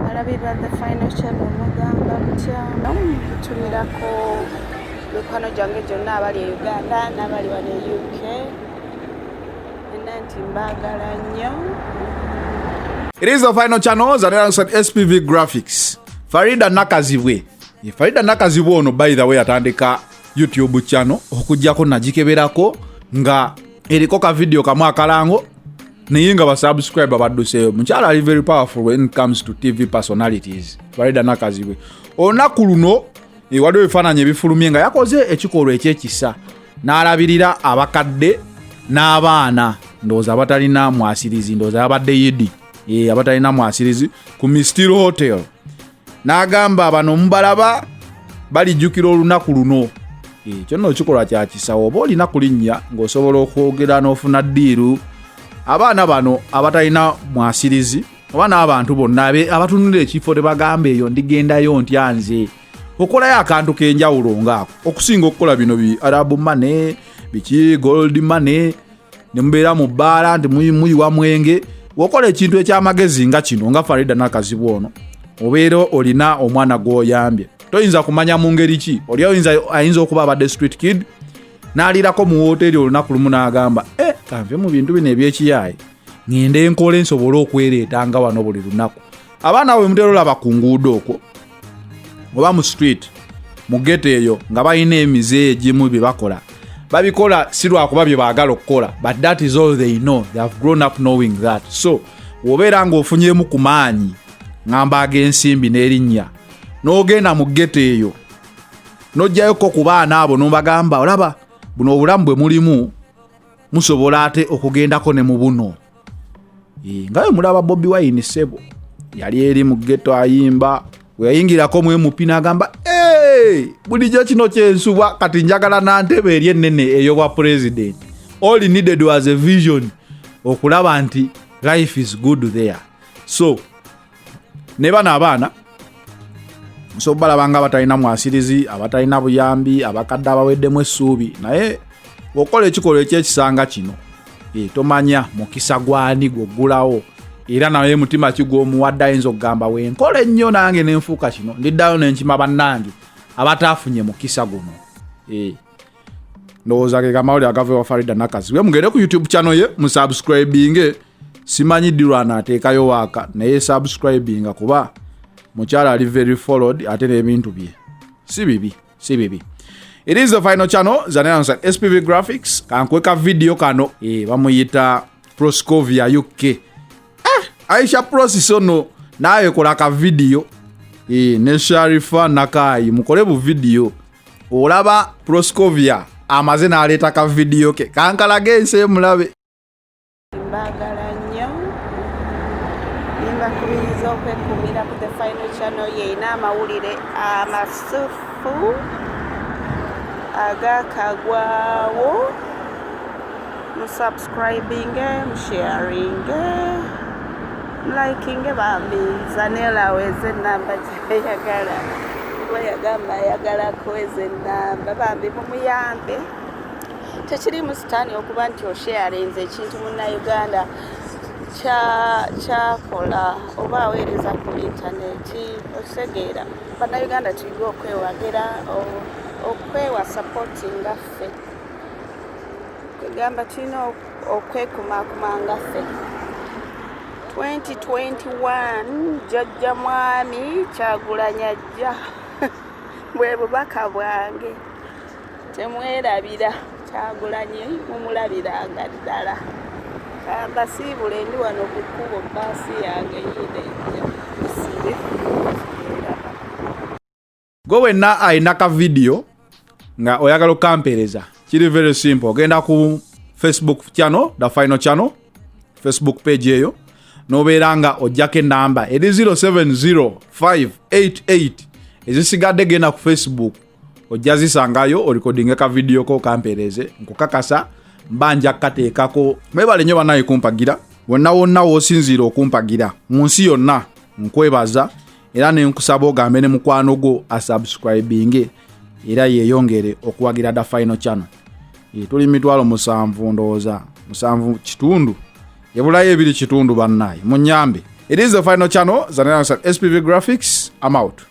Alabiba the final channel mugamba mutya mutumirako mikwano gyange gyonna abali e Uganda n'abali wano e UK enna nti mbaagala nnyo It is the final channel and alongside SPV Graphics. Farida Nakazibwe. Farida Nakazibwe ono by the way atandika YouTube channel okujjako nagikeberako nga eriko ka video kamu akalango naye nga basubscribe badduseeyo mukyala ali very powerful when comes to tv personalities baleda nakazibwe olunaku luno eh, waliwo ebifaananyi ebifulumye nga yakoze ekikolwa ekyekisa n'alabirira abakadde n'abaana ndowooza abatalina mwasirizi ndowooza yabadde yidi eh, abatalina mwasirizi ku mistil hotel n'agamba bano mubalaba balijjukira olunaku luno eh, ekyo nno kikolwa kya kisawo oba olina kulinnya ng'osobola okwogera n'ofuna ddiiru abaana bano abatalina mwasirizi oba n'abantu bonna abatunulira ekifo tebagamba eyo ndigendayo ntya nze okolayo akantu k'enjawulo ng'ako okusinga okukola bino bi arabu mane biki gold mane ne mubeera mu bbaala nti muyiwa mwenge wokola ekintu ekyamagezi nga kino nga farida nakazibu ono obeera olina omwana gwoyambye toyinza kumanya mu ngeri ki oli ayinza okuba abadde street kid n'aliirako mu wooteeri olunaku lumu n'agamba e eh, kanve mu bintu bino ebyekiyaayi ngende nkola ensobole okwereeta nga wano buli lunaku abaana bwe mutera olaba ku nguudo okwo oba mu street mu geto eyo nga balina emize egimu bye bakola babikola si lwakuba bye baagala okukola but that is all they know they have grown up knowing that so wobeera ng'ofunyemu ku maanyi ngamba ag'ensimbi n'erinnya n'ogenda mu geto eyo n'ojjayoko ku baana abo n'obagamba olaba buno obulamu bwe mulimu musobola ate okugendako ne mu buno nga we mulaba bobi wayini sebo yali eri mu geto ayimba weyayingirako mu mp nagamba bulijjo kino kyensuba kati njagala nantebe eri enene eyobwa president all needed was a vision okulaba nti life is good there so ne bano abaana nsobola obalaba nga abatalina mwasirizi abatalina buyambi abakadde abaweddemu essuubi naye okola ekikolwa ekyekisanga kino e, tomanya mukisa gwani gwoggulawo era naye mutima kigwomuwadde ayinza okugamba wenkola ennyo nange nenfuuka kino ndiddayo nenkima bannange abataafunye mukisa guno e. ndowooza ge kamawuli agava ewa farida nakazi we mugende ku youtube channel ye musubscribinge simanyi dirwa anaateekayo waaka naye subscribinga kuba mukyala ali very followed ate n'ebintu bye si bibi si bibi it is the final channel zanansa spv graphics kankweka video kano e, bamuyita proscovia uk ah, aisha process ono naye kola ka video e, ne sharifa nakayi mukole bu video olaba proscovia amaze naleeta ka video ke kankalage ensi emulabe mbagala nnyo nimbakubiriza okwekumira ku the final channel yeina amawulire amasufu agakagwawo Subscribinge, msharinge, mlikinge bambi Zanella aweze enamba gyeyagala kuba yagamba ayagala kuweza enamba bambi mumuyambe tekirimu sitaani okuba nti osharinze ekintu munnauganda kyakola oba aweereza ku intaneti okitegeera bannauganda tuyige okwewagira okwewa sapoti ngaffe kwegamba tulina okwekumakuma nga ffe 2021 jajja mwami kyagulanya jja bwe bubaka bwange temwerabira kyagulanye mumulabiranga ddala kambasiibule ndi wano ku kkubo baasi yange yideja gwe wenna alina ka vidiyo nga oyagala okampeereza kiri very simple ogenda ku facebook channel the final channel facebook page eyo nobeera nga ojjako enamba eri 070588 ezisigadde genda ku facebook ojja zisangayo orikodinge ka vidiyo ko kampeereze nkukakasa mba nja kukateekako mwebale nyo banaye kumpagira wonna wonna wosinziire okumpagira mu nsi yonna nkwebaza era nenkusaba ogambe ne mukwano gwo asubscribinge era yeyongere okuwagira da final channel eh, tuli mitwalo musanvu ndowooza musanvu kitundu ebulayo ebiri kitundu bannaye munyambe it is the final channel zanaa spv graphics am out